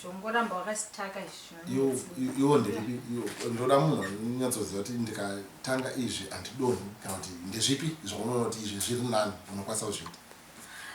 zvongoramba wakastaka iwo ndezvipi ndoda munhu anonyatsoziva kuti ndikatanga izvi handidonhi kana kuti ndezvipi zvaunoona kuti izvi zviri nani unokwanisa kuzviita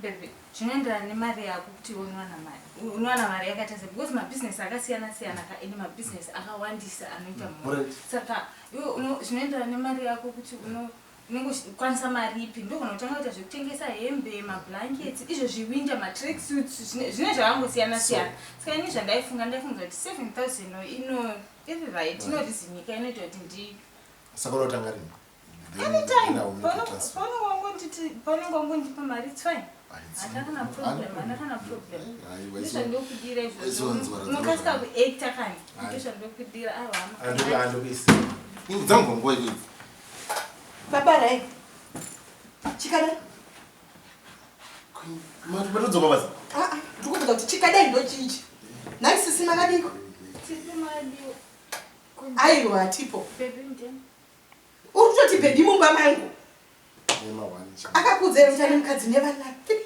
bebe zvinoenderana nemari yako kuti unowana mari unowana mari yakaita se because mabusiness akasiyana siyana ka ende mabusiness akawandisa anoita mhuri saka iwe zvinoenderana nemari yako kuti uno unenge uchikwanisa mari ipi ndogona kutanga kuita zvekutengesa hembe mablankets izvo zviwinda matrack suits zvine zvakangosiyana siyana ska ini zvandaifunga ndaifunga kuti 7000 ino iri right inorizimika inoita kuti ndi saka unotanga rini paunenge wangondipa mari its fine andakana problem andakana problem ndozvandokudira izvozvounokasika kuacta kani ndozvandokudira awa ah, andokuisa dzangongoa Baba Rai. Chikadai. Mati patodzoka basa. Ah ah, ndikuti kuti chikadai ndo chichi. Nai sisi makadiko. Sisi makadiko. Ayo hatipo. Baby ndini. Uri kutoti baby mumba mangu. Akakudza ero mtani mkadzi nevana. Three.